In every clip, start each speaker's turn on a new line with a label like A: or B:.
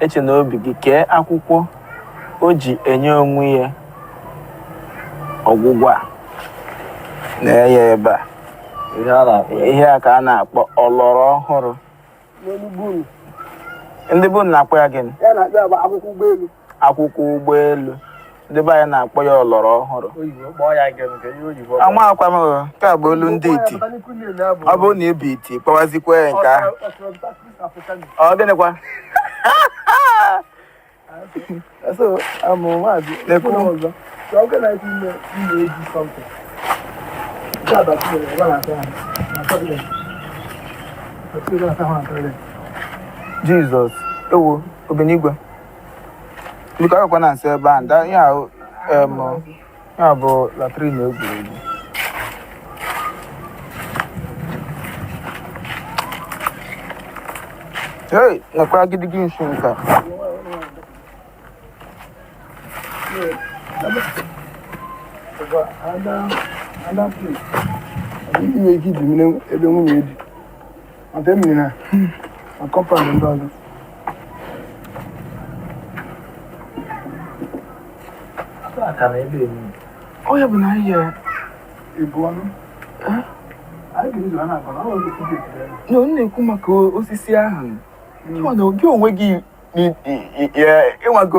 A: eche na obi gị kee akwụkwọ o ji enye onwe ya ọgwụgwọ a na-enye ebe a ihe a ka a na-akpọ ọlọrọ ọhụrụ ndị be unu na-akpọ ya gịnị
B: akwụkwọ
A: ụgbọelu ndị be anyị na-akpọ ya ọlọrọ ọhụrụ amakwa m nke a bụ olu ndị iti ọ bụrụ na ị bụ iti kpọwazikwa ya nke ahụ ọ gịnịkwa Jizọs ewo obenigwe biko agakwa na nsị ebe a nda ihe ahụ em, ihe a bụ latrin egwuregwu hey nekwa agidigi nshi
B: nka Ada, ada, please. Ị nwere ike iji mmiri ebe nwunye dị. ọ ya bụ na
A: ihe ebu
B: ọnụ na ọ na-ekwu maka
A: osisi ahụ hmm. gị onwe gị ịnwago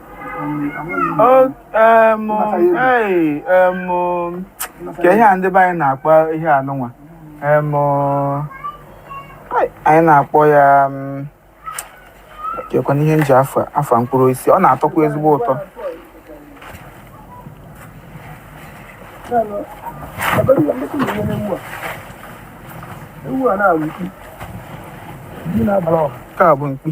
A: kee ihe a ndị be anyị na-akpọ ihe a nụnwa anyị na-akpọ ya kekwanụ ihe nji afa mkpụrụ osisi ọ na-atọkwa ezigbo
B: ụtọ ewu a na-abụ mkpi. Nke a bụ mkpi.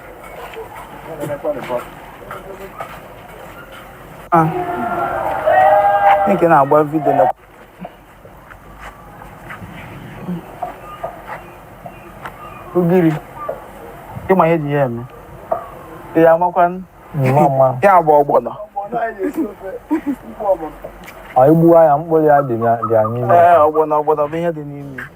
A: Ah. Nke na-agba vidio na ugiri ị ma ihe e ji ya eme ya amakwa na ọ bụ
C: ọgbọnọ ọ i gbuwaa ya mkpụrụ ya dị ya n'ime ọgbọnọ ọgbọnọ bụ
A: ihe dị n'ime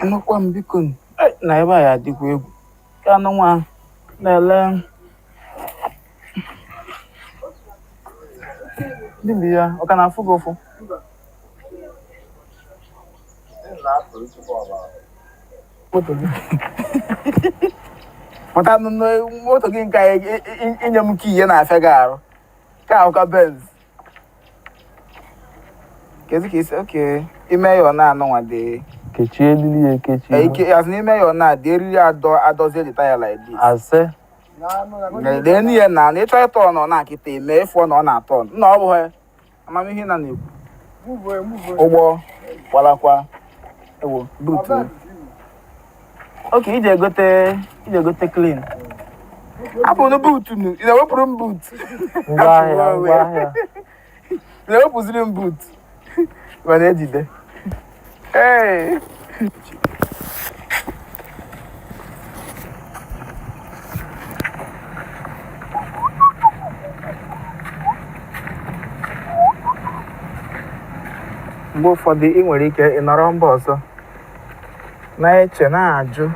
A: Anụkwa m biko nụ. Ai, na ebe a ya adịkwa egwu ka anụ nwa na-ele ndị bi ya ọ ka na-afụ gị ụfụ moto gị maka nụ na moto gị nke a, i- i- inye m kee ihe na-afịa gị arụ Nke a ụka Benz. Kezi ka isi oke ime ya ọ na-anụ nwa dị. kechie eriri ya
C: ekechi Ee, Ike as in ime ya
A: ọ na-adị eriri adọ adọzie the tire like this. ase Lee n'ihe na na ịchọ ịtọ ọ na ọ na-akịta eme ị fụ ọ na ọ na-atọ ọ. Nna ọ bụghị amamihe na na-ekwu ụgbọ gbalakwa ewo buutu oke iji egote iji egote clean hapụnụ buutu nu ị na-ewepụrụ m buutu ngwa ahịa
C: ngwa
A: ahịa ị na-ewepụziri m buutu mana ejide Hey. mgbe ụfọdụ ị nwere ike ịnọrọ mba ọzọ na-eche na-ajụ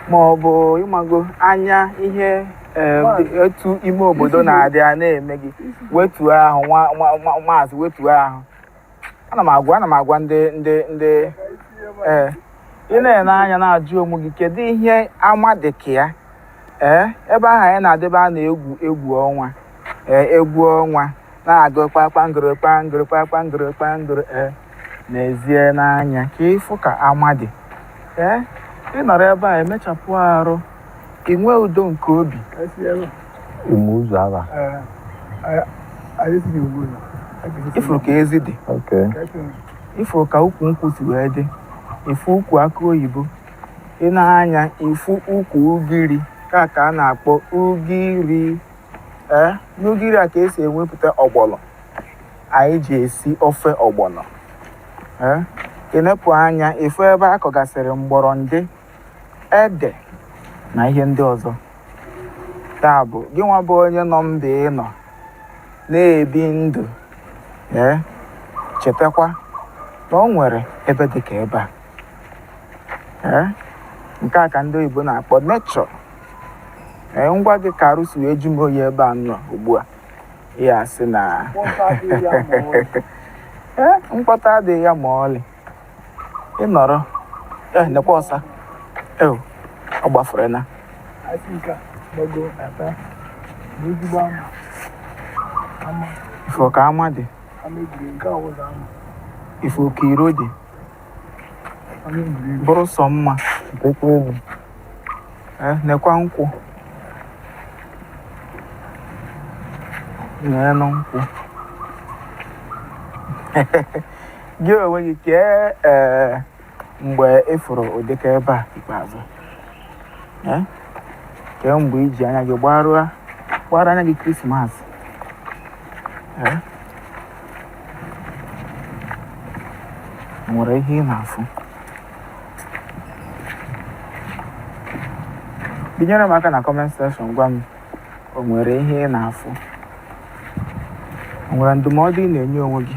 A: ma ọ bụ ịmago anya ihe eh, dị- etu ime obodo na-adị a na-eme gị wetuo ahụ nwa- nwa- nwa- maazị wetuo ahụ ana m agwa ana m agwa ndị ndị ndị ee ị na-ene anya na-ajụ onwe gị kedu ihe ama dị ka ya ee ebe ahụ anyị na-adebe a na-egwu egwu ọnwa ee egwu ọnwa na-agụ kpakpangoro kpangoro kpakpangoro kpangoro ee nezienụ anya ka ị fụ ka ama dị ee ị nọrọ ebe a emechapụ arụ i nwee udo nke
C: obi ụmụ ụzọ
A: aba ị fụ ka ezi dị ị fụ ka ukwu nkwụ si wee dị ị fụ ukwu akụ oyibo ị nee anya ị fụ ukwu ugiri nke a ka a na-akpọ ugiri ee n'ugiri a ka esi enwepụta ọgbọlọ anyị ji esi ofe ọgbọlọ ee ị nepụ anya ị fụ ebe a kọgasịrị mgbọrọndị ede na ihe ndị ọzọ ya bụ gị nwa bụ onye nọ mba ị nọ na-ebi ndụ ee chetakwa na o nwere ebe dị ka ebe a ee nke a ka ndị oyibo na-akpọ nature ee ngwa dị ka arụ si wee jụ m oyi ebe a m nọ ugbu a ihe a sị na mkpọtụ adịghị ya ma ọlị. ee mkpọtụ adịghị ya ma ọlị ị nọrọ eh nekwa ọsa eh ọ gbafere na Asị nke a gbago ata bụ ezigbo ama ama ị fụ ka ama dị ama egwuregwu nke a wụzọ ama ị fụ ka iro dị ama egwuregwu bụrụ sọ mma dịkwa egwu eh nekwa nkwụ neenụ nkwụ gị onwe gị kee ee mgbe ị fụrụ ụdịka ebe a ikpeazụ Eh? kee mgbe i ji anya gị gbarụa gbara anya gị krismas Eh? o nwere ihe ị na-afụ binyere m aka na comment section gwa m o nwere ihe ị na-afụ o nwere ndụmọdụ ị na-enye onwe gị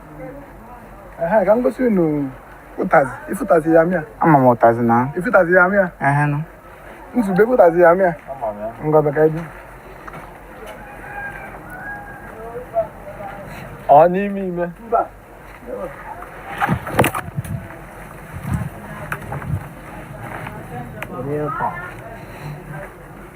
B: Ehe, ka m gosi unu ụtazị ị fụ ụtazị ya mịa ama m ụtazị
A: na ị fụ ụtazị ya mịa
B: ehe nụ
A: nzube ị fụ
B: ụtazị ya mịa ngọbe ka ebi
C: Ọ n'ime ime.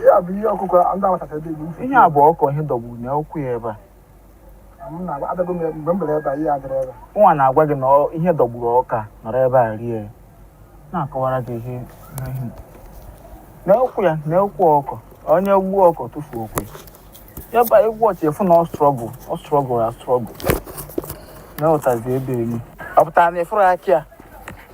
B: ihe a
A: bụ
B: ihe ọkụkọ ndị agbatacha ebe igbo ihe a bụ
A: ọkụkọ ihe dọgburu na ụkwụ ya ebe a adago m mgbe m bere ebe a ihe adịrị ebe nwa na-agwa gị na ihe dọgburu ọkụkọ a nọrọ ebe a rie na-akọwara gị ihe na ụkwụ ya na ụkwụ ọkụkọ onye gbuo ọkụkọ tụfuo ụkwụ ya ba egwu ọchị efu na ọ struggle ọ struggle ya struggle na ụtazi ebe enyi ọ pụtara na ị fụrụ aka ya